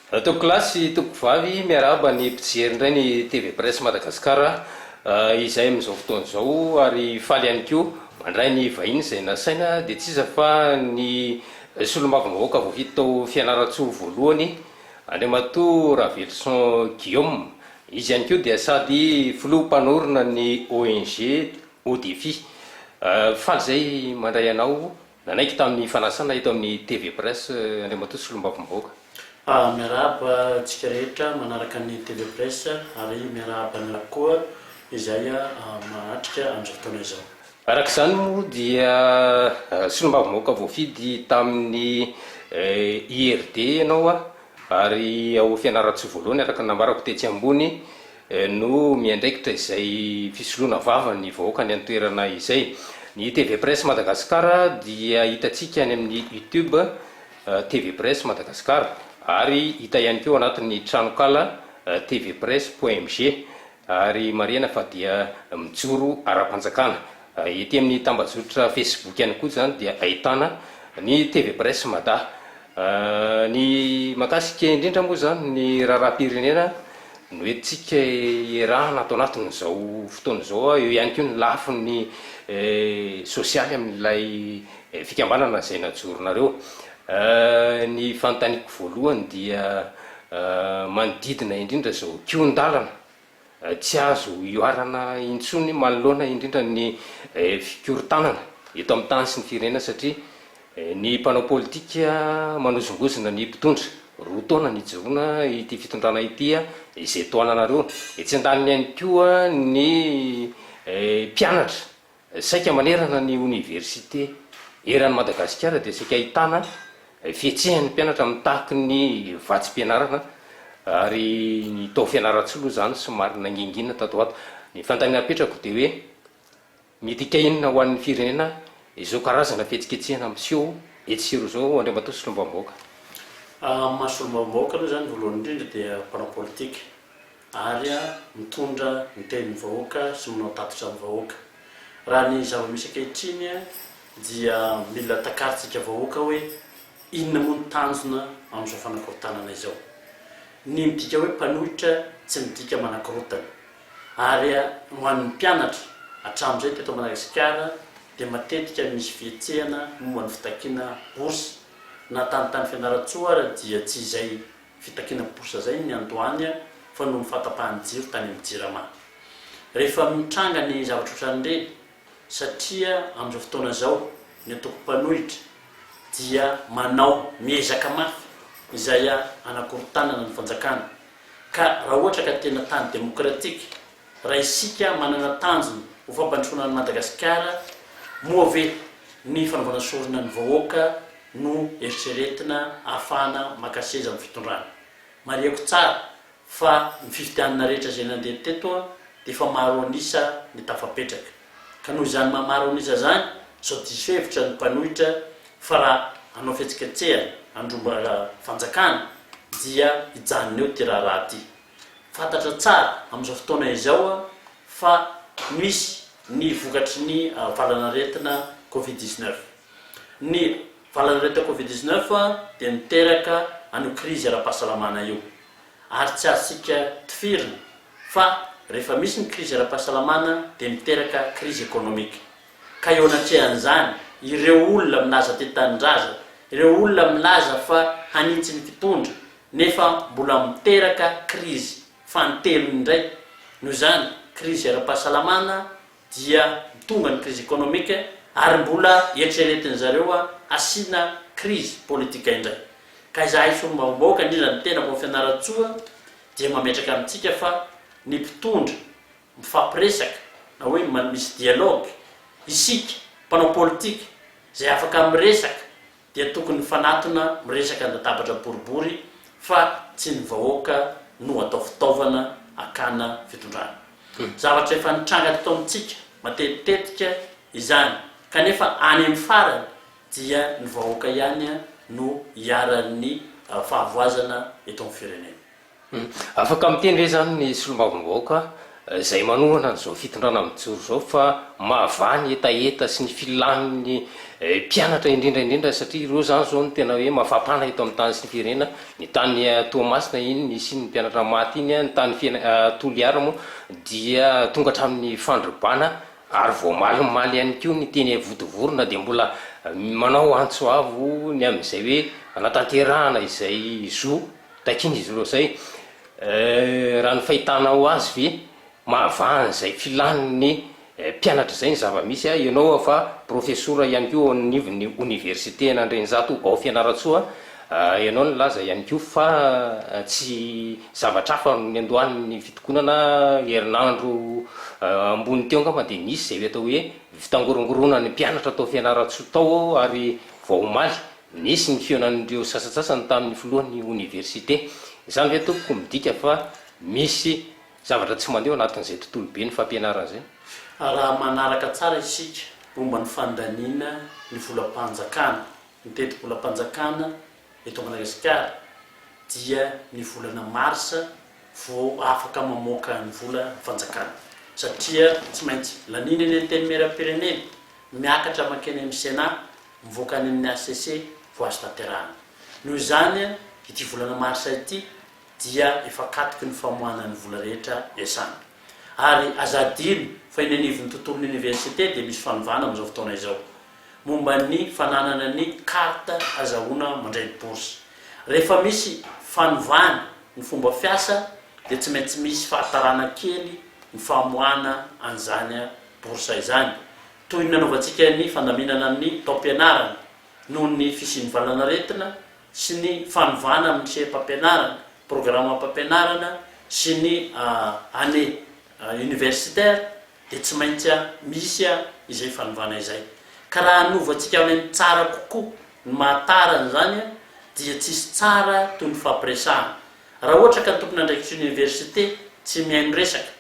Tompoko lahy sy tompoko vavy, miarahaba ny mpijery indray ny TV Presse Madagascar izay amin'izao fotoana izao ary faly ihany koa mandray ny vahiny izay nasaina dia tsy iza fa ny Solombavambahoaka voafidy tao Fianarantsoa voalohany, Andriamatoa Raveloson Guillaume. Izy ihany koa dia sady Filoha mpanorina ny ONG Haut Défi. Faly izay mandray anao. Nanaiky tamin'ny fanasana eto amin'ny TV Press Andriamatoa Solombavambahoaka. Miarahaba antsika rehetra manaraka ny TV Press ary miarahaba anareo koa izay mahatrika amin'izao fotoana izao. Araka izany moa dia Solombavambahoaka voafidy tamin'ny IRD ianao ary ao Fianarantsoa voalohany araka ny nambarako tetsy ambony. no miandraikitra izay fisoloana vava ny vahoaka any an-toerana izay. Ny TV Presse Madagascar dia hitantsika any amin'ny Youtube TV Presse Madagascar ary hita ihany koa ao anatin'ny tranonkala tvpresse.mg ary marihana fa dia mijoro ara-panjakana Ety amin'ny tambajotra Facebook ihany koa izany dia ahitana ny TV Presse Mada. Ny mahakasika indrindra moa izany ny raharaham-pirenena no entintsika iarahana ato anatin'izao fotoana izao. Eo ihany koa ny lafiny sosialy amin'ilay fikambanana izay najoronareo. Ny fanontaniako voalohany dia manodidina indrindra izao kion-dalana Tsy azo ihoarana intsony manoloana indrindra ny fikorontanana eto amin'ny tany sy ny firenena satria ny mpanao politika manozongozona ny mpitondra. Roa taona nijoroana ity fitondrana ity izay tohananareo. Etsy andaniny ihany koa ny mpianatra Saika manerana ny oniversite eran'i Madagasikara dia saika ahitana fihetsehan'ny mpianatra mitaky ny vatsim-pianarana ary ny tao Fianarantsoa aloha izany somary nangingina tato ho ato. Ny fanontaniana apetrako dia hoe midika inona ho an'ny firenena izao karazana fihetsiketsehana miseho etsy sy eroa izao Andriamatoa Solombavambahoaka? Amin'ny maha Solombavambahoaka aloha izany voalohany indrindra dia mpanao politika ary mitondra ny tenin'ny vahoaka sy manao tatitra amin'ny vahoaka. Raha ny zava-misy ankehitriny dia mila takarintsika vahoaka hoe inona moa ny tanjona amin'izao fanakorontanana izao. Ny midika hoe mpanohitra tsy midika manakorontana. Ary ho an'ny mpianatra, hatramin'izay teto Madagasikara dia matetika misy fihetsehana momba ny fitakiana bourse, na tany tany Fianarantsoa ary dia tsy izay Fitakiana bourse zay ny andoany fa noho ny fahatapahan'ny jiro tany amin'ny jirama. Rehefa mitranga ny zavatra otran'ireny satria amin'izao fotoana izao ny ataoko mpanohitra dia manao miezaka mafy izay hanakorotanana ny fanjakana ka raha ohatra ka tena tany demokratika Raha isika manana tanjona ho fampandrosoana an'i Madagasikara, moa ve ny fanaovana sorona ny vahoaka no eritreretina ahafahana maka seza amin'ny fitondrana? Marihako tsara fa ny fifidianana rehetra izay nandeha teto dia efa maro an'isa ny tafapetraka. Ka noho izany maha maro an'isa izany, sao diso hevitra ny mpanohitra fa raha hanao fihetsiketsehana handroba fanjakana dia hijanona eo ity raharaha ity. Fantatra tsara amin'izao fotoana izao fa misy ny vokatry ny valanaretina covid dix neuf. Ny valanaretina covid dix neuf dia miteraka an'io krizy ara-pahasalamana io ary tsy azontsika tifirina fa rehefa misy ny krizy ara-pahasalamana dia miteraka krizy ekonomika. Ka eo anatrehan'izany, ireo olona milaza tia tanindrazana, ireo olona milaza fa hanitsy ny mpitondra, nefa mbola miteraka krizy fanintelony indray, noho izany, krizy ara-pahasalamana, dia mitondra ny krizy ekonomika, ary mbola eritreretin'ny zareo hasiana krizy politika indray. Ka izahay solombavambahoaka, indrindra ny tenako, Fianarantsoa, dia mametraka amintsika fa ny mpitondra, mifampiresaka na hoe man misy dialogue, isika mpanao politika izay afaka miresaka dia tokony mifanatona miresaka an-databatra boribory fa tsy ny vahoaka no atao fitaovana akana fitondrana. Zavatra efa nitranga teto amintsika matetitetika izany kanefa any amin'ny farany dia ny vahoaka ihany no iharan'ny fahavoazana eto amin'ny firenena. Afaka miteny ve izany ny solombavambahoaka izay manohana an'izao fitondrana mijoro izao fa mahavaha ny hetaheta sy ny filan'ny mpianatra indrindra indrindra satria ireo izany izao no tena hoe mafampana eto amin'ny tany sy ny firenena, ny tany Toamasina iny nisian'ny mpianatra maty iny, ny tany Toliara moa dia tonga hatramin'ny fandrobana ary voamalimaly ihany koa ny teny Ivodivorona dia mbola manao antso avo ny amin'izay hoe hanatanterahana izay zo Takiana izy ireo zay. Euh, raha ny fahitanao azy ve mahavaha an'izay filan'ny mpianatra zay ny zava-misy a? Ianao a fa profesora ihany koa ao anivon'ny oniversite an'Andrianjato ao Fianarantsoa a, ianao nilaza ihany koa fa tsy zavatra hafa no niandohan'ny fitokonana herinandro ambony teo angamba dia nisy izay atao hoe fitangorongoronan'ny mpianatra tao Fianarantsoa tao ary vao omaly Nisy ny fihaonan'ireo sasantsasany tamin'ny filohan'ny oniversite. Izany ve tompoko midika fa misy zavatra tsy mandeha ao anatin'izay tontolo ben'ny fampianarana izay? Raha manaraka tsara isika momba ny fandaniana ny volam-panjakana, ny tetibolam-panjakana eto Madagasikara dia ny volana marsa vao afaka mamoaka ny volam-panjakana satria tsy maintsy laniana eny Antenimierampirenena, miakatra mankeny amin'ny Sénat, mivoaka any amin'ny hcc vao azo tanterahina. Noho izany, ity volana marsa ity dia efa katoky ny famoahana ny vola rehetra iasanana. Ary aza hadino fa eny anivon'ny tontolon'ny oniversite dia misy fanovana amin'izao fotoana izao, momba ny fananana ny carte azahoana mandray ny bourse. Rehefa misy fanovana ny fomba fiasa dia tsy maintsy misy fahatarana kely ny famoahana an'izany bourse izany. Toy ny nanaovantsika ny fandaminana ny taom-pianarana, noho ny fisian'ny valanaretina sy ny fanovana amin'ny seham-pampianarana, programam-pampianarana sy ny année universitaire dia tsy maintsy misy izay fanovana izay. Ka raha hanovantsika any amin'ny tsara kokoa ny maha tara an'izany dia tsy hisy tsara toy ny fampiresahana. Raha ohatra ka ny tompon'andraikitry ny oniversite tsy mihaino resaka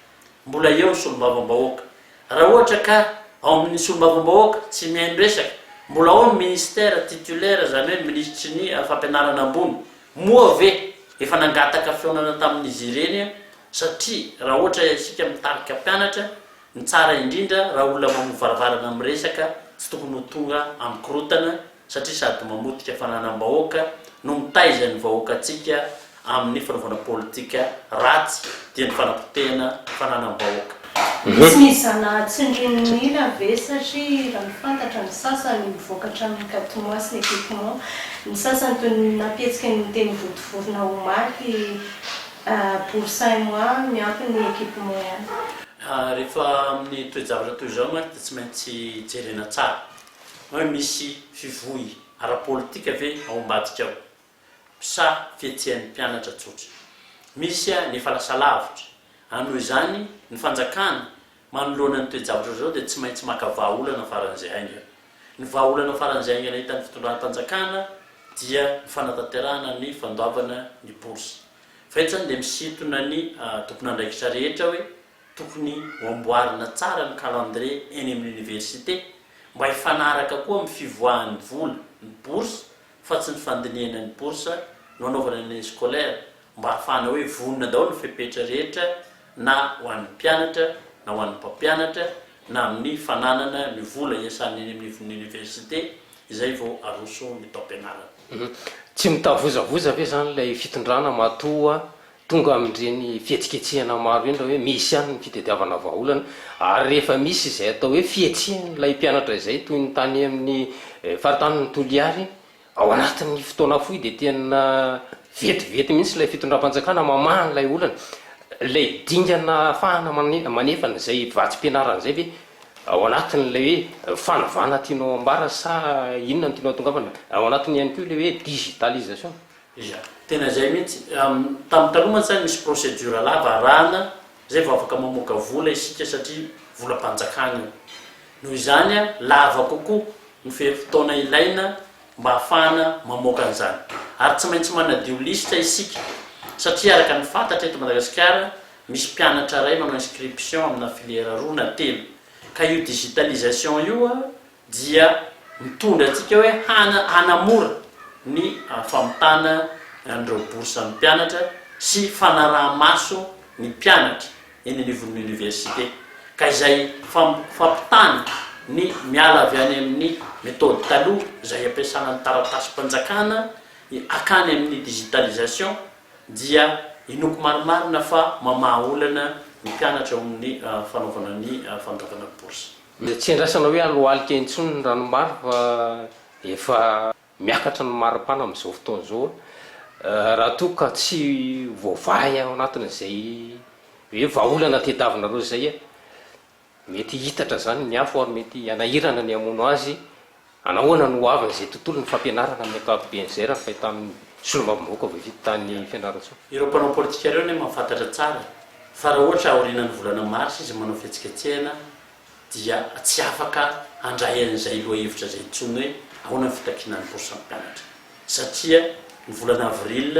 mbola eo ny solombavambahoaka. Raha ohatra ka ao amin'ny solombavambahoaka tsy mihaino resaka, mbola ao ny ministera titulaire izany hoe ny minisitry ny fampianarana ambony. Moa ve efa nangataka fihaonana tamin'izy ireny aho? Satria raha ohatra isika mitarika mpianatra, ny tsara indrindra raha olona mamoa varavarana miresaka tsy tokony ho tonga amin'ny korotana satria sady mamotika fananam-bahoaka no mitaiza ny vahoakantsika amin'ny fanaovana politika ratsy dia ny fanapotehana fananam-bahoaka. Tsy nizana tsindrinon'ila ve satria raha ny fantatra ny sasany mivoaka hatramin'ny quatre mois sy ny équipement, ny sasany toy ny nampietsika ny teny votovorona omaly pour cinq mois miampy ny équipement ihany. Rehefa amin'ny toe-javatra toy izao mantsy dia tsy maintsy jerena tsara. Hoe misy fivoy ara-politika ve ao ambadika ao? Sa fihetsehan'ny mpianatra tsotra? Misy an efa lasa lavitra an noho izany ny fanjakana manoloana ny toe-javatra izao dia tsy maintsy maka vahaolana faran'izay haingana. Ny vahaolana faran'izay haingana hitan'ny fitondram-panjakana dia ny fanatanterahana ny fandoavana ny bourse. Fa eto izany dia misintona ny tompon'andraikitra rehetra hoe Tokony ho amboarina tsara ny calendrier eny amin'ny université mba hifanaraka koa amin'ny fivoahan'ny vola, ny bourse, fa tsy ny fandinihana ny bourse no anaovana ny année scolaire mba hahafahana hoe vonona daholo ny fepetra rehetra na ho an'ny mpianatra na ho an'ny mpampianatra na amin'ny fananana ny vola hiasana eny anivon'ny université izay vao aroso ny taom-pianarana. Tsy mitavozavoza ve izany ilay fitondrana matoa Tonga amin'ireny fihetsiketsehana maro ireny raha hoe misy ihany ny fitadiavana vahaolana ary rehefa misy izay atao hoe fihetsehan'ilay mpianatra izay toy ny tany amin'ny faritanin'i Toliary ao anatin'ny fotoana fohy dia tena vetivety mihitsy ilay fitondram-panjakana mamaha an'ilay olana. Ilay dingana ahafahana manefana izay vatsim-pianarana izay ve ao anatin'ilay hoe fanovana tianao ambara sa inona no tianao atongavana? Ao anatiny ihany koa ilay hoe digitalisation. Iza? Tena izay mihitsy. Tamin'ny taloha mantsy zany misy procédure lava arahana zay vao afaka mamoaka vola isika satria volam-panjakana io. Noho izany lava kokoa ny ferim-potoana ilaina mba hahafahana mamoaka an'izany. Ary tsy maintsy manadio lisitra isika satria araka ny fantatra eto Madagasikara misy mpianatra iray manao inscription amina filière roa na telo ka io digitalisation io dia mitondra antsika hoe hana hanamora ny famitana an'ireo bourses-n'ny mpianatra sy fanaraha-maso ny mpianatra eny anivon'ny Université, ka izay fam fampitana ny miala avy any amin'ny méthode taloha izay ampiasana ny taratasim-panjakana hakany amin'ny digitalisation dia inoako marimarina fa mamaha olana ny mpianatra eo amin'ny fanaovana ny fandoavana bourses. Dia tsy andrasana hoe hanohalika intsony ny ranom-bary fa efa miakatra ny maripana amin'izao fotoana izao raha toa ka tsy voavaha ao anatin'izay hoe vahaolana tadiavinareo izay. Mety hihitatra izany ny afo ary mety hanahirana ny hamono azy. Anahoana no ho avy izay tontolon'ny fampianarana amin'ny ankapobeny izay raha fahita amin'ny solombavambahoaka voavidy tany Fianarantsoa? Ireo mpanao politika ireo anie mahafantatra tsara fa raha ohatra aorianan'ny volana marsa izy manao fihetsiketsehana dia tsy afaka handray an'izay lohahevitra izay intsony hoe ahoana ny fitakiana ny bourse mpampianatra satria ny volana avril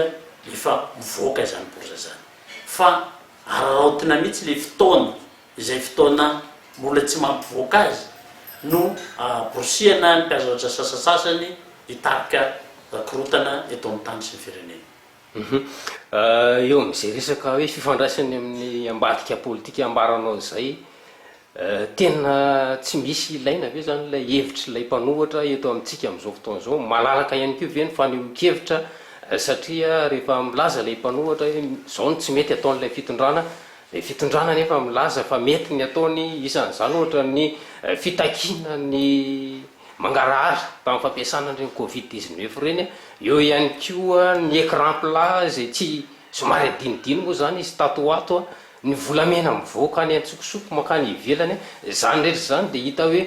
efa mivoaka izany bourse izany fa araraotina mihitsy ilay fotoana izay fotoana mbola tsy mampivoaka azy no haborisiana ny mpiazaotra sasasasany hitarika korontana eto amin'ny tany sy ny firenena. Eo amin'izay resaka hoe fifandraisany amin'ny ambadika politika ambaranao izay, tena tsy misy ilaina ve izany ilay hevitr'ilay mpanohatra eto amintsika amin'izao fotoana izao? Malalaka ihany koa ve ny fanehoan-kevitra satria rehefa milaza ilay mpanohatra hoe izao no tsy mety ataon'ilay fitondrana, Ny fitondrana anefa milaza fa mety ny ataony, isan'izany ohatra ny fitakiana ny mangarahara tamin'ny fampiasana an'ireny covid dix neuf ireny, eo ihany koa ny écran plat izay tsy, somary adinodino moa izany izy tato ho ato, ny volamena mivoaka any an-tsokosoko mankany ivelany, izany rehetra izany dia hita hoe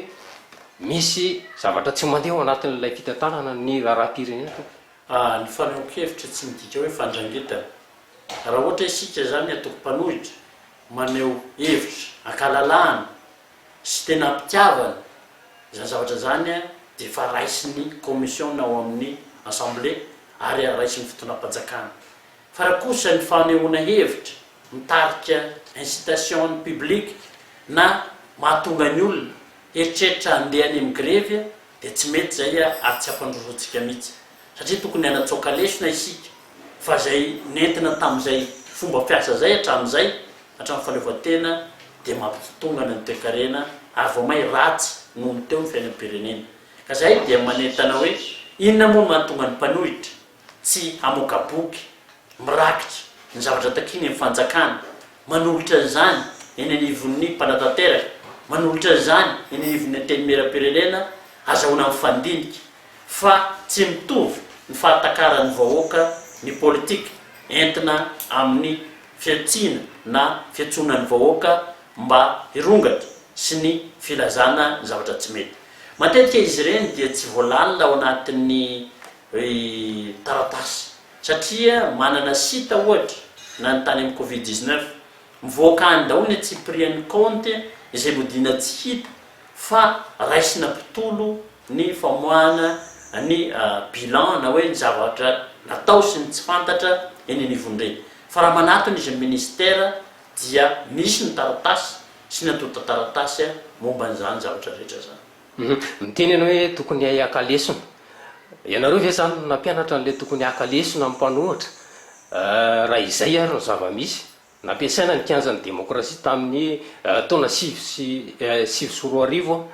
misy zavatra tsy mandeha ao anatin'ilay fitantanana ny raharaham-pirenena. Ny fanehoan-kevitra tsy midika hoe fandrangitana. Raha ohatra isika izany atoko mpanohitra, maneho hevitra ankalalahana sy tena ampitiavana izany zavatra izany dia efa raisin'ny kaomisiona ao amin'ny Assemblée ary raisin'ny fitondram-panjakana. Fa raha kosa ny fanehoana hevitra mitarika incitation publique na mahatonga ny olona hieritreritra handeha any amin'ny grevy dia tsy mety izay ary tsy ampandrosoantsika mihitsy. satria tokony hanatsoaka lesona isika fa izay nentina tamin'izay fomba fiasa izay hatramin'izay, hatramin'ny fahaleovantena, dia mampitotongana ny toekarena ary vao may ratsy noho ny teo ny fiainam-pirenena. Ka izahay dia manentana hoe inona moa no mahatonga ny mpanohitra tsy hamoaka boky mirakitra ny zavatra takiany ny fanjakana, manolotra izany eny anivon'ny mpanatanteraka, manolotra izany eny anivon'ny Antenimierampirenena, azahoana mifandinika. Fa tsy mitovy ny fahatakaran'ny vahoaka ny politika entina amin'ny fihantsiana na fiantsoana ny vahoaka mba hirongatra sy ny filazana ny zavatra tsy mety. Matetika izy ireny dia tsy voalalina ao anatin'ny taratasy satria manana site ohatra na ny tany amin'ny covid dix-neuf mivoaka any daholo ny antsipirian'ny kaonty izay nodiana tsy hita fa raisina mpitolo ny famoahana ny bilan na hoe ny zavatra natao sy ny tsy fantatra eny anivon'ny re. Fa raha manatona izy ny ministera dia misy ny taratasy sy ny antontan-taratasy momba an'izany zavatra rehetra izany. Miteny ianao hoe tokony haka lesona. Ianareo ve izany no nampianatra an'ilay tokony haka lesona amin'ny mpanohitra? Raha izay ary no zava-misy Nampiasaina ny kianjan'ny demokrasia tamin'ny taona sivy sy sivy sy roa arivo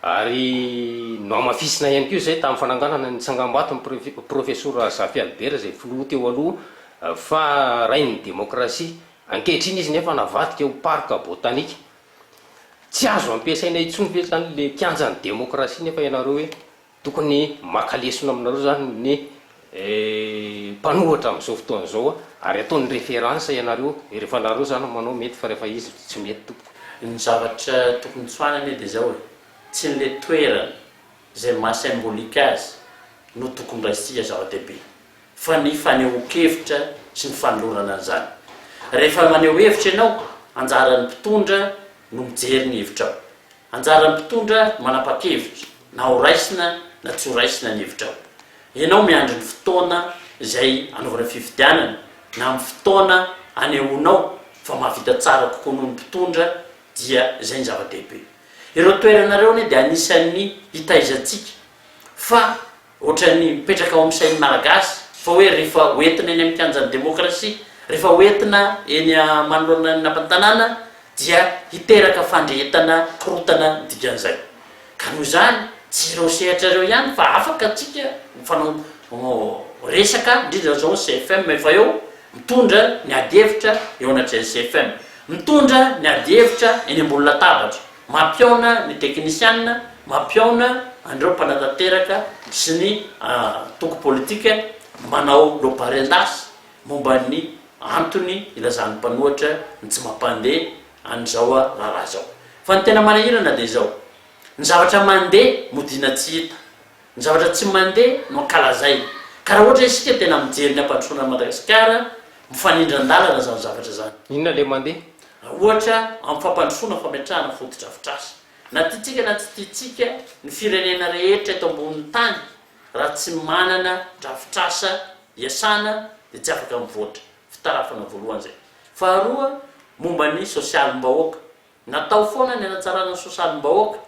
ary nohamafisina ihany koa izay tamin'ny fananganana ny tsangambaton'ny Profesora Zafy Albert izay filoha teo aloha fa rain'ny demokrasia. Ankehitriny izy nefa navadika ho parc botanique. Tsy azo ampiasaina intsony ve izany ilay kianjan'ny demokrasia nefa ianareo hoe Tokony maka lesona aminareo zany ny mpanohatra amin'izao fotoana izao ary ataony référence ianareo rehefa nareo zany no manao mety fa rehefa izy tsy mety tompoko. Ny zavatra tokony tsoahina anie dia izao e, tsy ny le toerana izay maha symbolique azy no tokony raisitsika zava-dehibe. fa ny fanehoan-kevitra sy ny fanolorana an'izany. Rehefa maneho hevitra ianao, anjaran'ny mpitondra no mijery ny hevitrao. Anjaran'ny mpitondra no manapa-kevitra na ho raisina na tsy ho raisina ny hevitrao. Ianao miandry ny fotoana izay anaovana fifidianana na amin'ny fotoana anehoanao fa mahavita tsara kokoa noho ny mpitondra dia izay ny zava-dehibe. Ireo toerana ireo anie dia anisan'ny hitaizantsika fa Ohatran'ny mipetraka ao amin'ny sain'ny Malagasy fa hoe rehefa hoentina eny amin'ny kianjan'ny demokrasia, rehefa hoentina eny manoloana ny lapan'ny tanàna dia hiteraka fandrehetana korotana ny dikan'izay. Ka noho izany, tsy ireo sehatra ireo ihany fa afaka antsika mifanao resaka, indrindra izao ny CFM efa eo mitondra ny ady hevitra eo anatrehan'ny CFM, mitondra ny ady hevitra eny ambony latabatra. Mampihaona ny teknisiana, mampihaona an'ireo mpanatanteraka sy ny antoko politika manao lobaren-dasy momba ny antony ilazan'ny mpanohatra ny tsy mampandeha an'izao raharaha izao. Fa ny tena manahirana dia izao, ny zavatra mandeha modiana tsy hita. Ny zavatra tsy mandeha no ankalazaina. Ka raha ohatra isika tena mijery ny hampandrosoana an'i Madagasikara, mifanindran-dalana izany zavatra izany. Inona ilay mandeha? Raha ohatra amin'ny fampandrosoana fametrahana fotodrafitrasa. Na tiantsika na tsy tiantsika, ny firenena rehetra eto ambonin'ny tany, raha tsy manana drafitrasa iasana dia tsy afaka mivoatra. Fitarafana voalohany izay. Faharoa, momba ny sosialim-bahoaka. Natao foana ny hanatsarana ny sosalim-bahoaka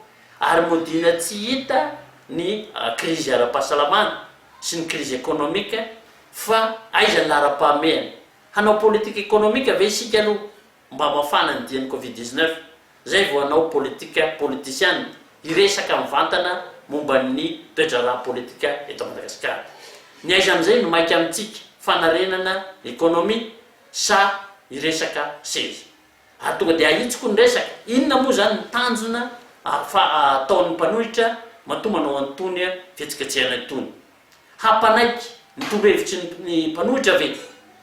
ary modiana tsy hita ny krizy ara-pahasalamana sy ny krizy ekonomika fa aiza ny laharam-pahamehana? Hanao politika ekonomika ve isika aloha mba hamafana ny dian'ny covid dix-neuf izay vao hanao politika politisiana hiresaka mivantana momba ny toe-draharaha politika eto Madagasikara? Ny aiza amin'izay no maika amintsika, fanarenana ekonomia sa hiresaka seza? ary tonga dia ahitsiko ny resaka, inona moa izany ny tanjona ataon'ny mpanohitra matoa manao an'itony fihetsiketsehana itony? Hampanaiky ny torohevitry ny mpanohitra ve?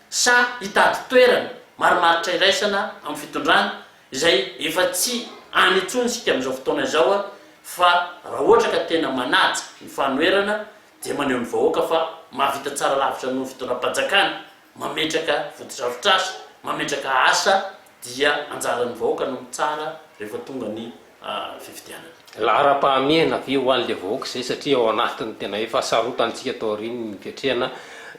Sa hitady toerana marimaritra iraisana amin'ny fitondrana izay efa tsy any intsony isika amin'izao fotoana izao fa raha ohatra ka tena manaja ny fanoherana dia maneho ny vahoaka fa mahavita tsara lavitra noho ny fitondram-panjakana mametraka fotodrafitrasa, mametraka asa dia anjaran'ny vahoaka no mitsara rehefa tonga ny fifidianana. Laharam-pahamehana ve ho an'ilay vahoaka izay satria ao anatin'ny tena efa sarotantsika taorian'ny niketrehana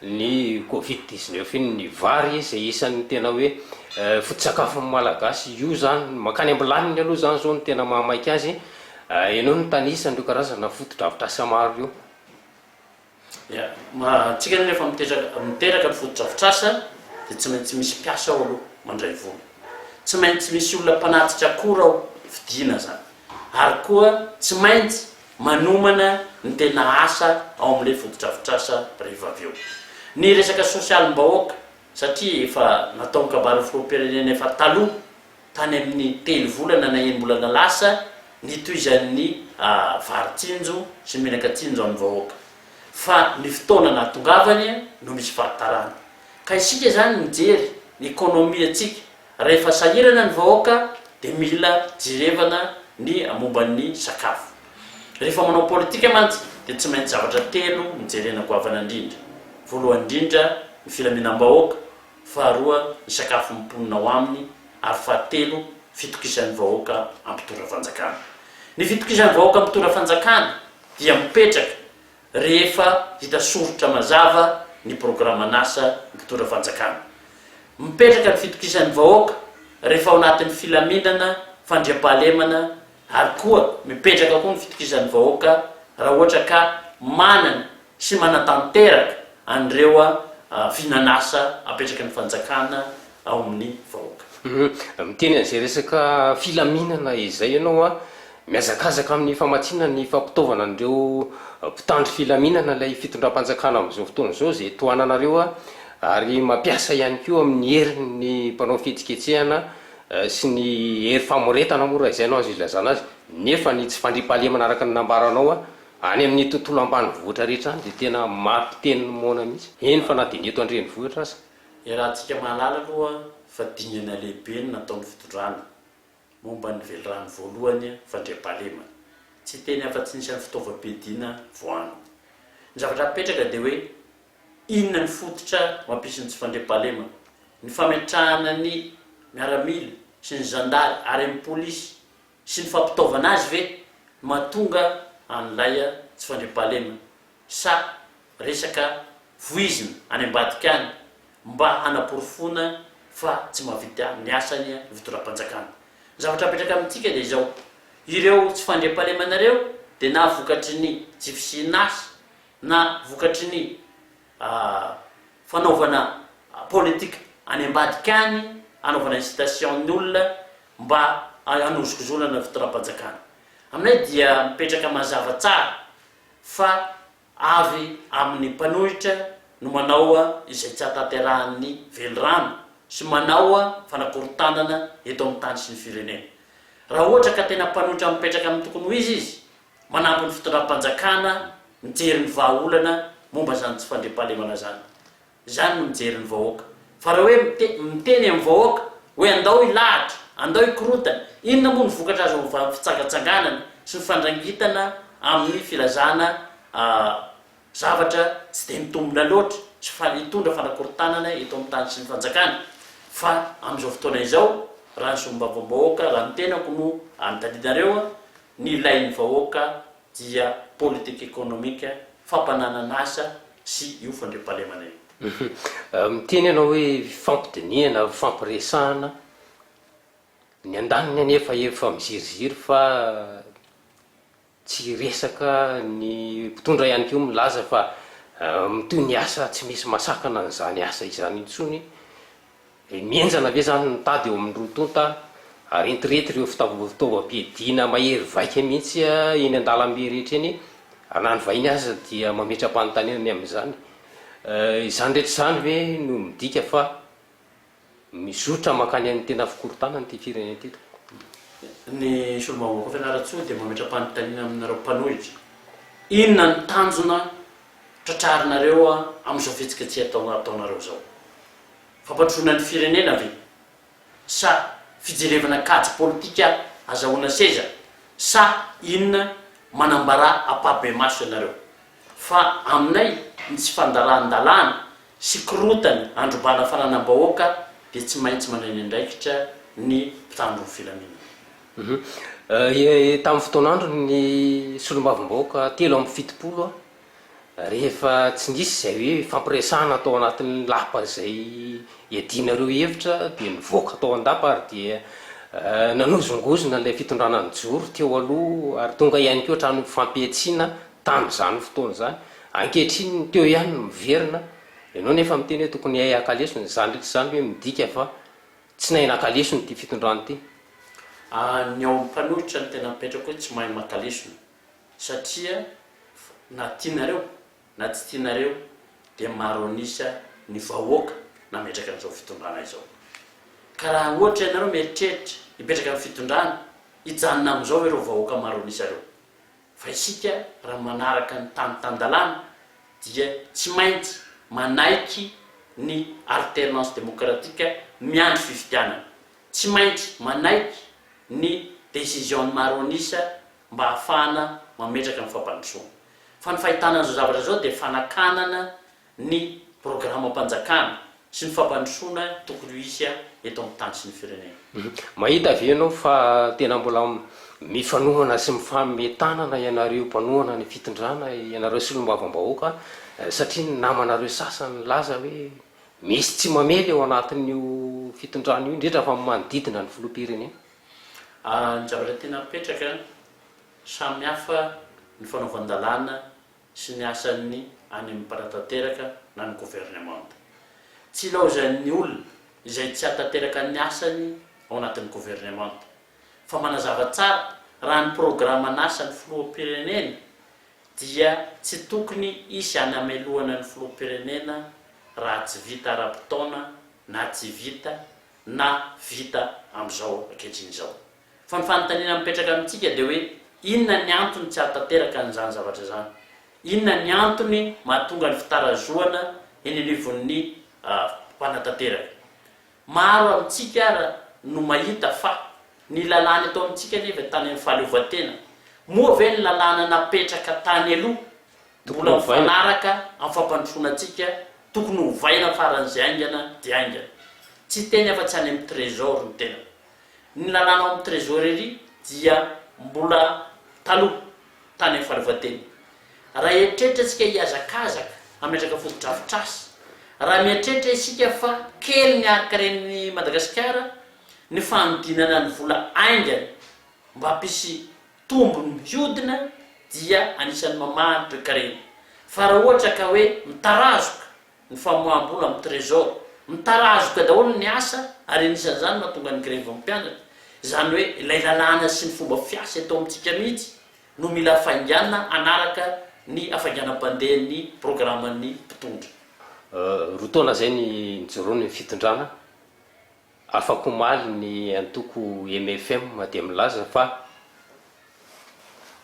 ny covid dix neuf iny ny vary izay isan'ny tena hoe foto-tsakafon'ny Malagasy io izany mankany am-bilaniny aloha izany izao no tena mahamaika azy, ianao no nitanisa an'ireo karazana foto-drafitrasa maro ireo. Ia, antsika anie rehefa miteraka miteraka ny fotodrafitrasa dia tsy maintsy misy mpiasa ao aloha mandray vola, tsy maintsy misy olona mpanatrika akora ao fidiana izany, ary koa tsy maintsy manomana ny tena asa ao amin'ilay fotodrafitrasa rehefa avy eo. Ny resaka sosialim-bahoaka satria efa natao ny kabarin'ny filoham-pirenena efa taloha. tany amin'ny telo volana na enim-bolana lasa nitohizan'ny vary tsinjo sy menaka tsinjo amin'ny vahoaka fa ny fotoana nahatongavany no misy fahatarana ka isika izany mijery ny economie antsika rahefa sahirana ny vahoaka dia mila jerevana ny momban'ny sakafo rehefa manao politika mantsy dia tsy maintsy zavatra telo no jerena goavana indrindra voalohany indrindra ny filaminam-bahoaka faharoa ny sakafon'ny mponina ao aminy ary fahatelo fitokisan'ny vahoaka ampitorafanjakana. Ny fitokisan'ny vahoaka ampitorafanjakana dia mipetraka rehefa hita soritra mazava ny programan'asa mpitorafanjakana. Mipetraka ny fitokisan'ny vahoaka rehefa ao anatin'ny filaminana, fandriampahalemana ary koa mipetraka koa ny fitokisan'ny vahoaka raha ohatra ka manana sy manatanteraka an'ireo vinan'asa apetraky ny fanjakana ao amin'ny vahoaka. Miteny an'izay resaka filaminana izay ianao an! Mihazakazaka amin'ny famatsiana ny fampitaovana an'ireo mpitandro filaminana ilay fitondram-panjakana amin'izao fotoana izao izay tohananareo an! Ary mampiasa ihany koa amin'ny heriny ny mpanao fihetsiketsehana sy ny hery famoretana moa raha izay no azo ilazana azy, nefa ny tsy fandriampahalemana araka ny nambaranao an! Any amin'ny tontolo ambanivohitra rehetra any dia tena mari-piteny ny moana mihitsy, eny fa na dia ny eto an-drenivohitra aza. Iarahantsika mahalala aloha fa dingana lehibe ny nataon'ny fitondrana momba ny velirano voalohany fandriampahalemana. Tsy hiteny afa-tsy ny isan'ny fitaovam-piadiana voanina. Ny zavatra mipetraka dia hoe inona ny fototra mampisy ny tsy fandriampahalemana. Ny fametrahana ny miaramila sy ny zandary ary ny polisy sy ny fampitaovana azy ve no mahatonga an'ilay tsy fandriampahalemana sa resaka voizina any ambadika any mba hanaporofoana fa tsy mahavita ny asany ny fitondram-panjakana? Ny zavatra apetraka amintsika dia izao, ireo tsy fandriampahalemana ireo dia na vokatry ny tsy fisian'asa na vokatry ny. a fanaovana politique any ambadika any, anaovana incitation ny olona mba hanozokozonana fitondram-panjakana. Aminay dia mipetraka mazava tsara fa avy amin'ny mpanohitra no manao izay tsy hahatanterahan'ny velirano sy manao fanakorontanana eto amin'ny tany sy ny firenena. Raha ohatra ka tena mpanohitra mipetraka amin'ny tokony ho izy izy, Manampy ny fitondram-panjakana mijery ny vahaolana momba izany tsy fandriampahalemana izany. Izany no mijery ny vahoaka. Fa raha hoe miteny amin'ny vahoaka hoe andao hilahatra, andao hikorontana, inona moa no vokatra azo avy amin'ny fitsangatsanganana sy ny fandrangitana amin'ny filazana zavatra tsy dia mitombina loatra sy hitondra fanakorontanana eto amin'ny tany sy ny fanjakana? Fa amin'izao fotoana izao, raha ny solombavambahoaka, raha ny tenako no anotadidinareo, Ny ilain'ny vahoaka dia politika ekonomika, fampananana asa sy io fandriampahalemana io. Miteny ianao hoe fifampidinihana, fifampiresahana. Ny andaniny anefa efa miziriziry fa tsy hiresaka, ny mpitondra ihany koa milaza fa mitohy ny asa tsy misy masakana an'izany asa izany intsony. Dia mihenjana ve izany ny tady eo amin'ny roa tonta ary entirehitra ireo fitaovam-piadiana mahery vaika mihitsy eny an-dalambe rehetra eny? Ary na ny vahiny aza dia mametra-panontaniana ny amin'izany. Izany rehetra izany ve no midika fa mizotra mankany amin'ny tena fikorontanana ity firenena ity tompoko? Ny solombavambahoaka Fianarantsoa dia mametra-panontaniana aminareo mpanohitra, inona ny tanjona tratrarinareo amin'izao fihetsiketsehana ataonareo izao? Fampandrosoana ny firenena ve? Sa fijerevana kajy politika azahoana seza? Sa inona? Manambara ampahibemaso ianareo fa aminay ny tsy fandaran-dalàna sy korontana androbana fananam-bahoaka dia tsy maintsy manao eny andraikitra ny mpitandro ny filaminana. Tamin'ny fotoan'andron'ny solombavambahoaka telo amby fitopolo, Rehefa tsy nisy izay hoe hifampiresahana tao anatin'ny lapa izay iadianareo hevitra dia nivoaka tao an-dapa ary dia nanozongozona ilay fitondrana nijoro teo aloha ary tonga ihany koa hatramin'ny fifampihetsiana tamin'izany fotoana izany. Ankehitriny ny teo ihany no miverina. Ianao nefa miteny hoe tokony hay haka lesona. Izany rehetra izany ve midika fa tsy nahay naka lesona ity fitondrana ity? Ny ao amin'ny mpanohitra no tena mipetraka hoe tsy mahay maka lesona. satria na tianareo na tsy tianareo dia maro an'isa ny vahoaka nametraka an'izao fitondrana izao. Ka raha ohatra ianareo mieritreritra hipetraka amin'ny fitondrana, hijanona amin'izao ireo vahoaka maro an'isa ireo. Fa isika raha manaraka ny tany tan-dalàna dia tsy maintsy manaiky ny alternance démocratique miandry fifidianana. Tsy maintsy manaiky ny décision-n'ny maro an'isa mba hahafahana mametraka ny fampandrosoana. Fa ny fahitana an'izao zavatra izao dia fanakanana ny programam-panjakana sy ny fampandrosoana tokony ho hisy eto amin'ny tany sy ny firenena. Mahita ve ianao fa tena mbola mifanohana sy mifanome tanana ianareo mpanohana ny fitondrana, ianareo solombavambahoaka satria ny namanareo sasany nilaza hoe misy tsy mamely ao anatin'io fitondrana io indrindra fa ny manodidina ny filoham-pirenena? Ny zavatra tiana apetraka, samy hafa ny fanaovan-dalàna sy ny asan'ny any amin'ny mpanatanteraka na ny governemanta. Tsy ilaozan'ny olona izay tsy hahatanteraka ny asany ao anatin'ny governemanta, fa manazava tsara raha ny programan'asan'ny filoham-pirenena dia tsy tokony hisy any hamelohana ny filoham-pirenena raha tsy vita ara-potoana na tsy vita na vita amin'izao ankehitriny izao. Fa ny fanontaniana mipetraka amintsika dia hoe inona ny antony tsy hahatanteraka an'izany zavatra izany? Inona ny antony mahatonga ny fitarazohana eny anivon'ny mpanatanteraka? Maro amintsika ara no mahita fa ny lalàna eto amintsika anie ve tany amin'ny fahaleovantena? Moa ve ny lalàna napetraka tany aloha Mbola mifanaraka amin'ny fampandrosoana antsika tokony hovaina faran'izay haingana dia haingana. Tsy hiteny afa-tsy any amin'ny Trésor ny tenako. Ny lalàna ao amin'ny Trésorerie dia mbola taloha, tany amin'ny fahaleovantena. Raha eritreritra isika hihazakazaka hametraka fotodrafitrasa, raha mieritreritra isika fa kely ny harin-karen'i Madagasikara, ny fanodinana ny vola haingana mba hampisy tombony mihodina dia anisan'ny mamahan'ny toekarena. Fa raha ohatra ka hoe mitarazoka ny famoaham-bola amin'ny Trésor, mitarazoka daholo ny asa ary anisan'izany no mahatonga ny grevin'ny mpianatra, izany hoe ilay lalàna sy ny fomba fiasa eto amintsika mihitsy no mila hafainganina hanaraka ny hafainganam-pandehan'ny programan'ny mpitondra. Roa taona izay ny nijoroany ny fitondrana Afak'omaly ny antoko mfm dia milaza fa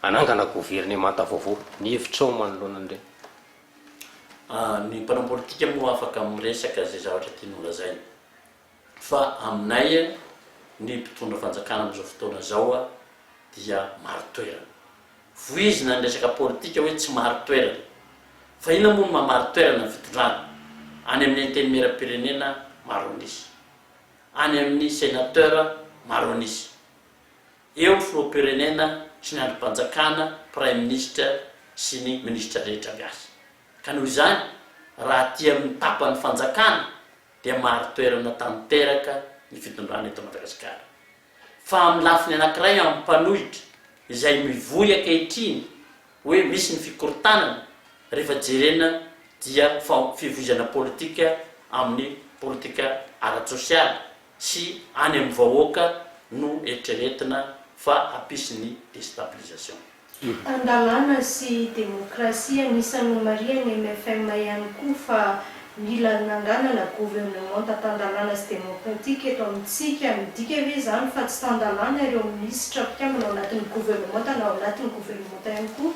hanangana governemanta vaovao. Ny hevitrao manoloana an'ireny? Ny mpanao politika moa afaka miresaka izay zavatra tiany holazaina. Fa aminay ny mpitondra fanjakana amin'izao fotoana izao dia marin-toerana. Vohizina ny resaka politika hoe tsy marin-toerana. Fa inona moa no maha marin-toerana ny fitondrana? Any amin'ny Antenimieram-pirenena maro an'isa. Any amin'ny Senateur maro an'isa. Eo ny Filoham-pirenena sy ny Andrim-panjakana, Praiminisitra sy ny Minisitra rehetra miasa. Ka noho izany, raha aty amin'ny tapan'ny fanjakana dia marin-toerana tanteraka ny fitondrana eto Madagasikara. Fa amin'ny lafiny anankiray amin'ny mpanohitra izay mivoy ankehitriny hoe misy ny fikorontanana rehefa jerena dia fa fivoizana politika amin'ny politika ara-tsosialy sy any amin'ny vahoaka no eritreretina fa hampisy ny destabilisation. Fitan-dalàna sy demokrasia anisan'ny nomarihan'ny mfm ihany koa fa mila nanganana governemanta tan-dalàna sy demokratika eto amintsika. Midika ve izany fa tsy tan-dalàna ireo minisitra mpikambana ao anatin'ny governemanta na ao anatin'ny governemanta ihany koa?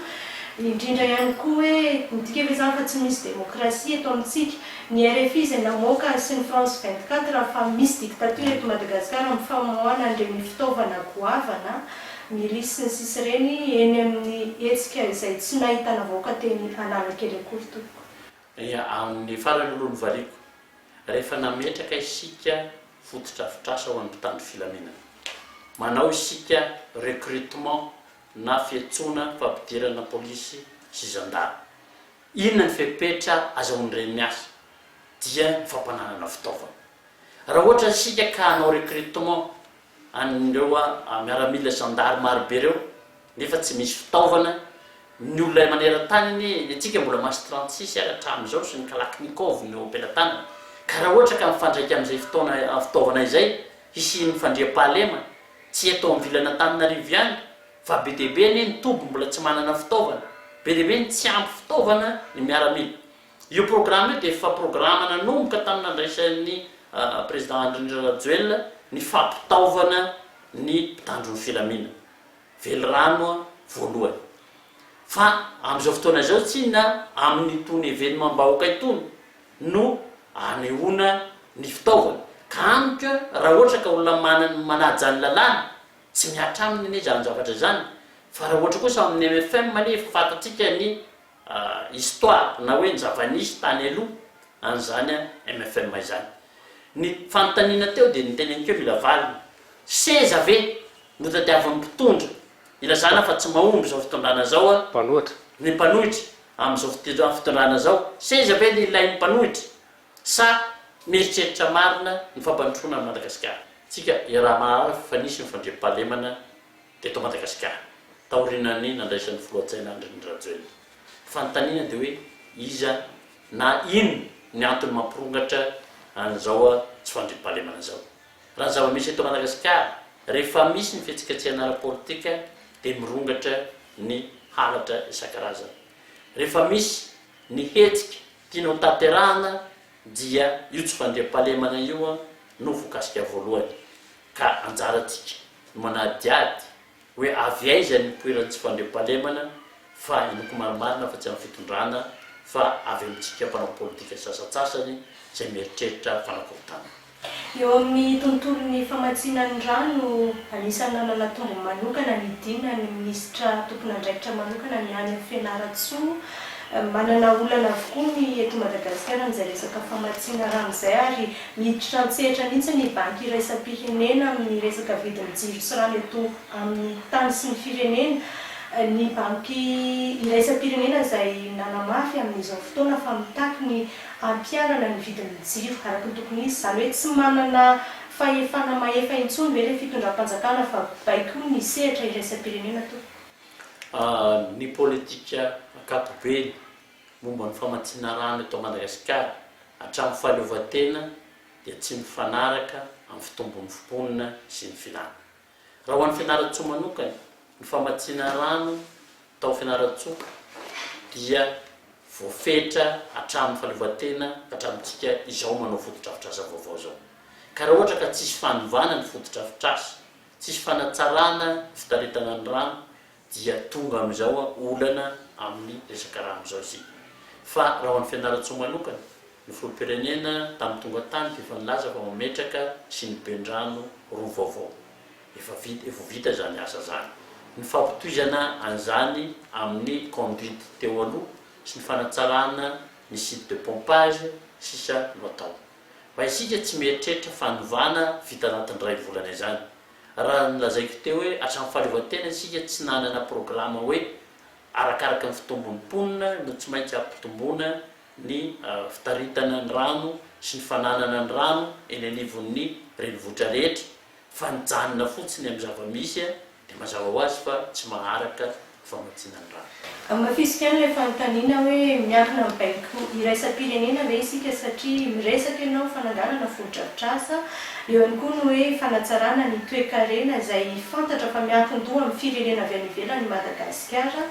Indrindra ihany koa hoe midika ve izany fa tsy misy demokrasia eto amintsika? Ny rfi izay namoaka sy ny France 24 fa misy dictature eto Madagasikara amin'ny famoahana an'ireny fitaovana goavana ny lisy ny sisa ireny eny amin'ny hetsika izay tsy nahitana vahoaka teny Analakely akory tompoko. Dia amin'ny farany no novaliako, rehefa nametraka isika fotodrafitrasa ho an'ny mpitandro filaminana. Manao isika recrutement na fiantsoana fampidirana polisy sy zandary. Inona ny fepetra azahoan'ireny miasa? Dia ny fampananana fitaovana. Raha ohatra isika ka hanao recrutement an'ireo miaramila zandary marobe ireo nefa tsy misy fitaovana, ny olona iray maneran-tany anie, ny antsika mbola mas trente six ary hatramin'izao sy ny kalachnikov no am-pelatanana, ka raha ohatra ka mifandraika amin'izay fotoana fitaovana izay hisian'ny fandriampahalema, tsy eto amin'ny vilan'Antananarivo ihany fa be dia be anie ny toby mbola tsy manana fitaovana, be dia be ny tsy ampy fitaovana ny miaramila. Io programa io dia efa programa nanomboka tamin'ny nandraisan'ny Président Andry Nirina Rajoelina ny fampitaovana ny mpitandro ny filamina, velirano voalohany. Fa amin'izao fotoana izao tsy inona amin'itony evenemam-bahoaka itony no anehoana ny fitaovana. Ka amiko raha ohatra ka olona manana, manaja ny lalàna, tsy mihatra aminy anie izany zavatra izany. Fa raha ohatra kosa ao amin'ny MFM anie efa fantatsika ny histoire na hoe ny zava-nisy tany aloha an'izany mfm izany. Ny fanontaniana teo dia noteneniko eo mila valiny. Seza ve no tadiavin'ny mpitondra ilazana fa tsy mahomby izao fitondrana izao ny mpanohitra amin'izao fitondrana izao? Seza ve no ilain'ny mpanohitra sa mieritreritra marina ny fampandrosoana an'i Madagasikara? Tsika iaraha mahalala fa nisy ny fandriampahalemana Eto Madagasikara, taorian'ny nandraisan'ny Filoha Jaina Andry Rajoelina fanontaniana dia hoe iza na ino ny antony mampirongatra an'izao tsy fandriampahalemana izao. Raha ny zava-misy eto Madagasikara, rehefa misy ny fihetsiketsehana ara-politika dia mirongatra ny halatra isan-karazany. Rehefa misy ny hetsika tiana ho tanterahana dia io tsy fandriampahalemana io no voakasika voalohany ka anjarantsika no manadihady hoe avy aiza ny nipoiran'ny tsy fandriampahalemana fa inoako marimarina fa tsy amin'ny fitondrana fa avy amintsika mpanao politika sasantsasany izay mieritreritra fanakorontanana. Eo amin'ny tontolon'ny famatsiana ny rà no anisan'ny nanana tombony manokana ny Dina ny minisitra tompon'andraikitra manokana ny any Fianarantsoa. Manana olana avokoa ny eto Madagasikara amin'izay resaka famatsiana rà amin'izay ary Niditra an-tsehatra mihitsy ny Banky iraisam-pirenena amin'ny resaka vidin'ny jiro sy rano eto amin'ny tany sy ny firenena. Ny Banky iraisam-pirenena izay nanamafy amin'izao fotoana fa mitaky ny hampiharana ny vidin'ny jiro araka ny tokony izy. Izany hoe tsy manana fahefana mahefa intsony ve ilay fitondram-panjakana fa baiko ny sehatra iraisam-pirenena tompoko. Ny politika ankapobeny momba ny famatsiana rano eto Madagasikara hatramin'ny fahaleovantena dia tsy mifanaraka amin'ny fitombon'ny mponina sy ny filàna. Raha ho an'i Fianarantsoa manokana, ny famatsiana rano tao Fianarantsoa dia voafetra hatramin'ny fahaleovantena ka hatramintsika izao manao fotodrafitrasa vaovao izao. Ka raha ohatra ka tsisy fanovana ny fotodrafitrasa, tsisy fanatsarana ny fitaritana ny rano dia tonga amin'izao an olana amin'ny resaka rano izao isika. Fa raha ho an'i Fianarantsoa manokana, ny Filoham-pirenena tamin'ny tonga tany dia efa nilaza fa mametraka sy ny ben-drano roa vaovao. Efa vita, efa ho vita izany asa izany. Ny fampitohizana an'izany amin'ny conduite teo aloha sy ny fanatsarana ny site de pompage sisa no atao. Fa isika tsy mieritreritra fanovana vita anatin'ny iray volana izany. Raha nolazaiko teo hoe hatramin'ny fahaleovantena isika tsy nanana programa hoe arakaraka ny fitombon'ny mponina no tsy maintsy hampitomboana ny fitaritana ny rano sy ny fananana ny rano eny anivon'ny renivohitra rehetra fa nijanona fotsiny amin'ny zava-misy dia mazava ho azy fa tsy maharaka famatsiana ny rano. Hamafisiko ihany ilay fanontaniana hoe miankina amin'ny baiko iraisam-pirenena ve isika satria miresaka ianao fananganana fotodrafitrasa, eo ihany koa ny hoe fanatsarana ny toekarena izay fantatra fa miankin-doha amin'ny firenena avy any ivelany i Madagasikara,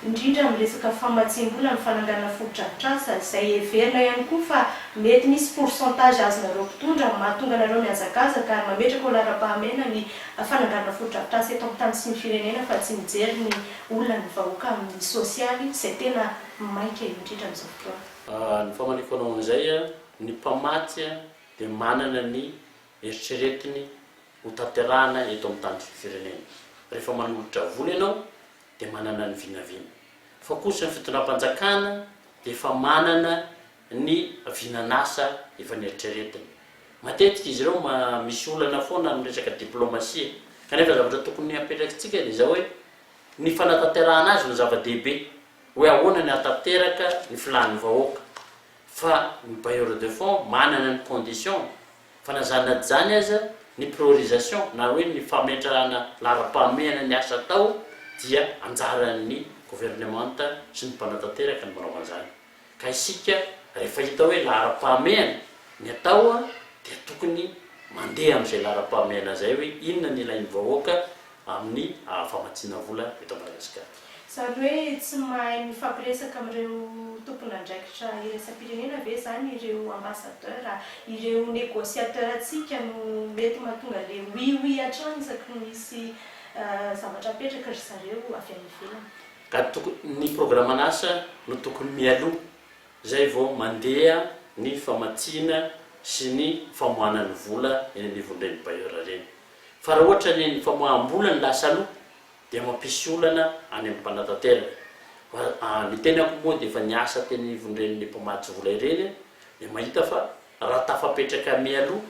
indrindra amin'ny resaka famatsiam-bola amin'ny fananganana fotodrafitrasa izay heverina ihany koa fa mety misy pourcentage azonareo mpitondra mahatonga anareo mihazakazaka ary mametraka ho laharam-pahamehana ny fananganana fotodrafitrasa eto amin'ny tany sy ny firenena fa tsy mijery ny olan'ny vahoaka amin'ny sosialy izay tena maika indrindra amin'izao fotoana. Ny famaniko anao amin'izay, ny mpamatsy dia manana ny eritreretiny ho tanterahana eto amin'ny tany sy ny firenena. Rehefa manolotra vola ianao dia manana ny vinavina. Fa kosa ny fitondram-panjakana dia efa manana ny vinan'asa efa neritreretiny. Matetika izy ireo misy olana foana amin'ny resaka diplaomasia, kanefa zavatra tokony hapetrakintsika dia izao hoe ny fanatanterahana azy no zava-dehibe, hoe ahoana ny hahatanteraka ny filàn'ny vahoaka, fa ny bailleurs de fonds manana ny conditions-ny, fa na izany na tsy izany aza ny priorisation na hoe ny fametrahana laharam-pahamehana ny asa atao dia anjaran'ny governemanta sy ny mpanatanteraka ny manao an'izany. Ka isika rehefa hita hoe laharam-pahamehana ny atao dia tokony mandeha amin'izay laharam-pahamehana izay hoe inona ny ilain'ny vahoaka amin'ny famatsiana vola eto Madagasikara. Izany hoe tsy mahay mifampiresaka amin'ireo tompon'andraikitra iraisam-pirenena ve izany ireo ambassadeur? Ireo negociateur antsika no mety mahatonga le oui oui hatrany isaky ny misy zavatra apetraka ry zareo avy any ivelany. Ka toko ny programan'asa no tokony mialoha zay vao mandeha ny famatsiana sy ny famoahana ny vola eny anivon'ireny bailleur ireny. Fa raha ohatra ny ny famoaham-bola no lasa aloha dia mampisy olana any amin'ny mpanatanteraka. Fa ny tenako moa dia efa niasa teny anivon'ireny mpamatsy vola ireny dia mahita fa raha tafapetraka mialoha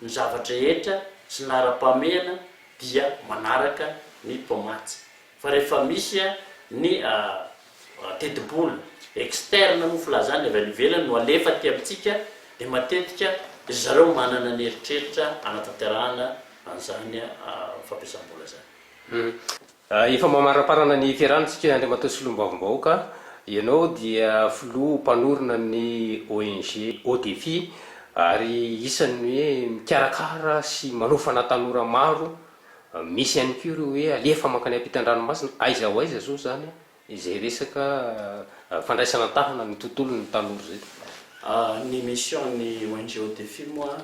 ny zavatra rehetra sy ny laharam-pahamehana dia manaraka ny mpamatsy. Fa rehefa misy ny tetibola externe moa filazana avy any ivelany no alefa aty amintsika dia matetika ry zareo manana ny eritreritra hanatanterahana an'izany fampiasam-bola izany. Efa mamaramparana ny fiarahana isika Andriamatoa Solombavambahoaka, ianao dia filoha mpanorina ny ONG Haut Defi ary isan'ny hoe mikarakara sy manofana tanora maro Misy ihany koa ireo hoe alefa mankany ampitan-dranomasina, aiza ho aiza zao zany izay resaka fandraisana an-tahana ny tontolon'ny tanora izay. Ny mission ny ong Defi moa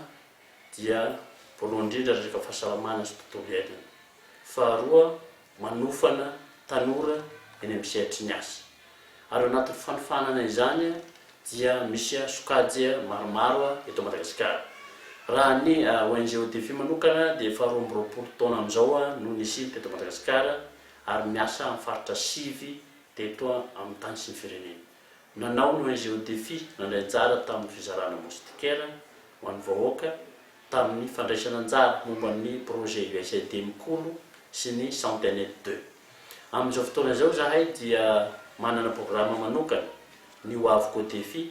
dia voalohany indrindra resaka fahasalamana sy tontolo iainana, faharoa manofana tanora eny amin'ny sehatry ny asa. Ary ao anatin'ny fanofanana izany dia misy sokajy maromaro eto Madagasikara. Raha ny ONG ODEFI manokana dia efa roa amby roapolo taona amin'izao no nisiany teto Madagasikara ary miasa amin'ny faritra sivy teto amin'ny tany sy ny firenena. Nanao ny ONG ODEFI nandray anjara tamin'ny fizarana moustiquaire ho an'ny vahoaka. tamin'ny fandraisana anjara momba ny projet USAID Mikolo sy ny Centenet Deux. Amin'izao fotoana izao izahay dia manana programa manokana, ny Hoaviko au Défi,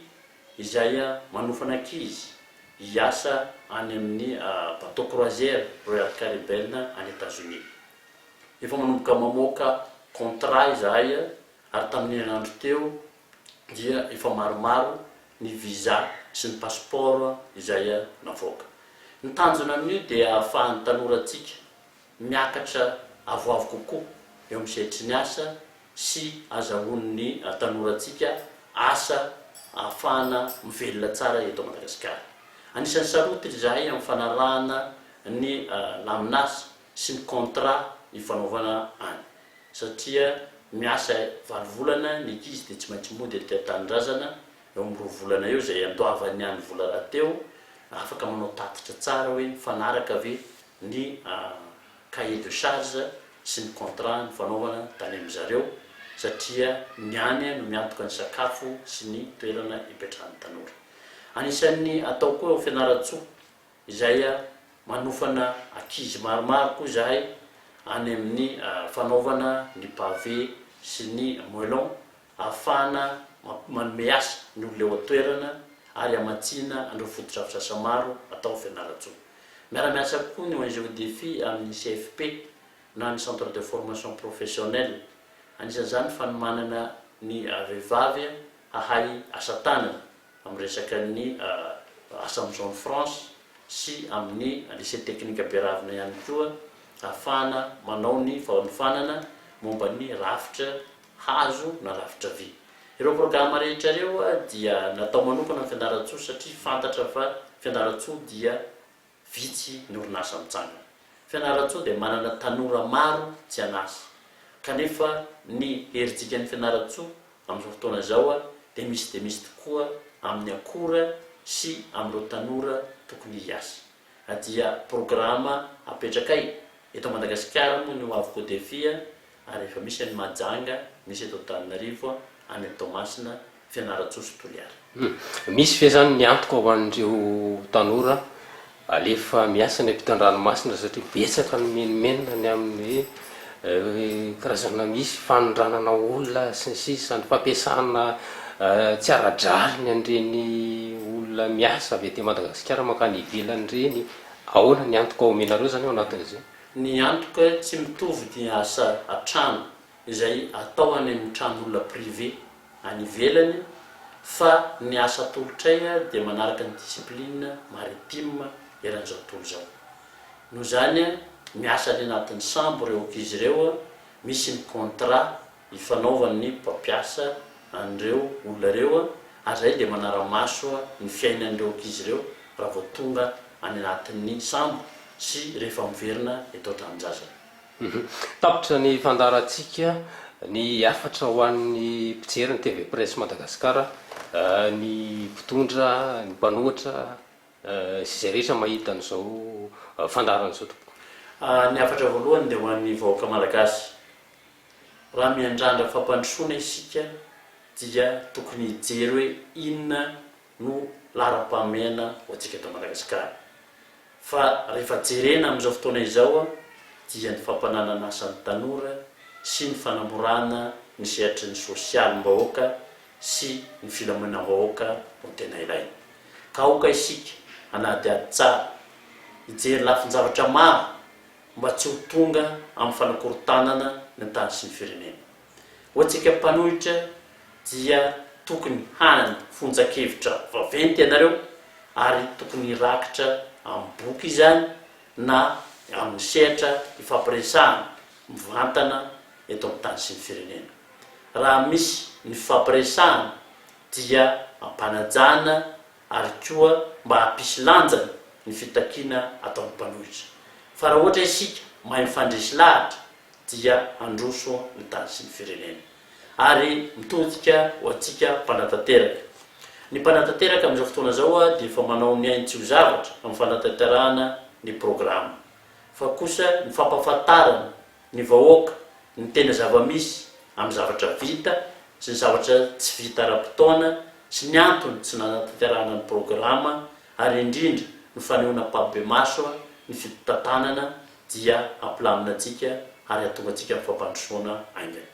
izay manofana ankizy hiasa any amin'ny bateau croisière Royal Caribbean any Etazonia. Efa manomboka mamoaka contrat izahay ary tamin'ny herinandro teo, dia efa maromaro ny visa sy ny passeport izay navoaka. Ny tanjona amin'io dia ahafahan'ny tanorantsika miakatra avoavo kokoa eo amin'ny sehatry ny asa sy azahoan'ny tanorantsika asa ahafahana mivelona tsara eto Madagasikara. Anisan'ny sarotiny izahay amin'ny fanarahana ny lamin'asa sy ny contrat ifanaovana any. satria miasa valo volana ny ankizy dia tsy maintsy mody aty an-tanindrazana eo amin'ny roa volana eo izay andoavan'ny any vola rahateo, afaka manao tatitra tsara hoe mifanaraka ve ny cahier de charge sy ny contrat nifanaovana tany amin-dry zareo satria ny any no miantoka ny sakafo sy ny toerana ipetrahan'ny tanora. Anisan'ny atao koa eo Fianarantsoa. izay manofana ankizy maromaro koa izahay any amin'ny fanaovana ny pavé sy ny moellon ahafahana manome asa ny olona eo an-toerana ary hamatsiana an'ireo fotodrafitrasa maro atao ao Fianarantsoa. Miara-miasa koa ny ong Odefi amin'ny CFP na ny Centre de Formation Professionnelle, anisan'izany ny fanomanana ny vehivavy hahay asa tanana. amin'ny resakan'ny asa amin'ny Zone Franche sy amin'ny Lycée Teknika Beravina ihany koa ahafahana manao ny fanofanana momba ny rafitra hazo na rafitra vy. Ireo programa rehetra ireo dia natao manokana amin'ny Fianarantsoa satria fantatra fa Fianarantsoa dia vitsy ny orinasa mitsangana. Fianarantsoa dia manana tanora maro tsy an'asa, kanefa ny herijikan'i Fianarantsoa amin'izao fotoana izao dia misy dia misy tokoa amin'ny akora sy amin'ireo tanora tokony hiasa. Na dia programa apetrakay eto Madagasikara moa ny Hoavy Codefi ary efa misy any Mahajanga, misy eto Antananarivo, any amin'ny Toamasina, Fianarantsoa sy Toliara. Misy ve izany ny antoka ho an'ireo tanora alefa miasa any ampitan-dranomasina satria betsaka ny menomenona ny amin'ny karazana misy fanondranana olona sy ny sisa, ny fampiasana tsy ara-drariny an'ireny olona miasa avy aty Madagasikara mankany ivelany ireny, ahoana ny antoka omenareo izany ao anatin'izay? Ny antoka tsy mitovy dia asa an-trano izay atao any amin'ny tranon'olona privé any ivelany fa ny asa atolotray dia manaraka ny discipline maritime eran'izao tontolo izao. Noho izany, miasa any anatin'ny sambo ireo ankizy ireo, misy ny contrat ifanaovan' ny mpampiasa an' ireo olona ireo ary izay dia manara-maso ny fiainan' ireo ankizy ireo raha vao tonga any anatin' ny sambo sy rehefa miverina eto an-tranon-jazany. Tapitra ny fandaharantsika ny hafatra ho an'ny mpijery ny TV Presse Madagascar, ny mpitondra, ny mpanohatra sy izay rehetra mahita an'izao fandaharana izao tompoko. Ny hafatra voalohany dia ho an'ny vahoaka malagasy Raha miandrandra fampandrosoana isika dia tokony hijery hoe inona no laharam-pahamehana ho antsika eto Madagasikara. Fa rehefa jerena amin'izao fotoana izao dia ny fampananan'asa ny tanora sy ny fanamorana ny sehatry ny sosialim-bahoaka sy ny filaminam-bahoaka no tena ilaina. Ka aoka isika hanadihady tsara, hijery lafin-javatra maro mba tsy ho tonga amin'ny fanakorontanana ny tany sy ny firenena. Ho antsika mpanohitra dia tokony hany fonjan-kevitra vaventy ianareo ary tokony hirakitra amin'ny boky izany na amin'ny sehatra ifampiresahana mivantana eto amin'ny tany sy ny firenena. Raha misy ny fifampiresahana dia ampanajana ary koa mba hampisy lanjany ny fitakiana ataon'ny mpanohitra fa raha ohatra isika mahay mifandresy lahatra dia handroso ny tany sy ny firenena ary mitodika ho antsika mpanatanteraka. Ny mpanatanteraka amin'izao fotoana izao dia efa manao ny ainy tsy ho zavatra amin'ny fanatanterahana ny programa fa kosa ny fampahafantarana ny vahoaka, ny tena zava-misy amin'ny zavatra vita sy ny zavatra tsy vita ara-potoana sy ny antony tsy nanatanterahana ny programa ary indrindra ny fanehoana ampahibemaso ny fitantanana dia ampilamina antsika ary ahatonga antsika amin'ny fampandrosoana haingana.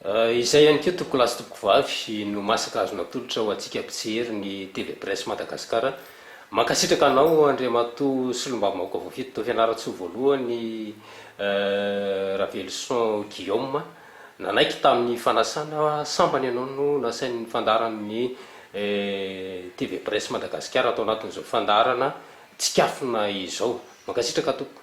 Izay ihany koa tompokolahy sy tompokovavy no masaka azo natolotra ho antsika mpijery ny TV Presse Madagascar. Mankasitraka anao Andriamatoa Solombavambahoaka Voafidy tao Fianarantsoa Voalohany Raveloson Guillaume. Nanaiky tamin'ny fanasana sambany ianao no nasain'ny fandaharan'ny TV Presse Madagascar tao anatin'izao fandaharana tsikafona izao. Mankasitraka tompoko.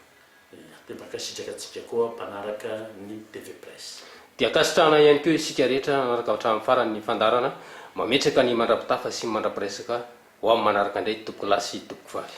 Iya, dia mankasitraka antsika koa mpanaraka ny TV Presse. Dia ankasitrahana ihany koa isika rehetra nanaraka hatramin'ny farany ny fandaharana, mametraka ny mandra-pitafa sy ny mandra-piresaka ho amin'ny manaraka indray tompokolahy sy tompokvavy.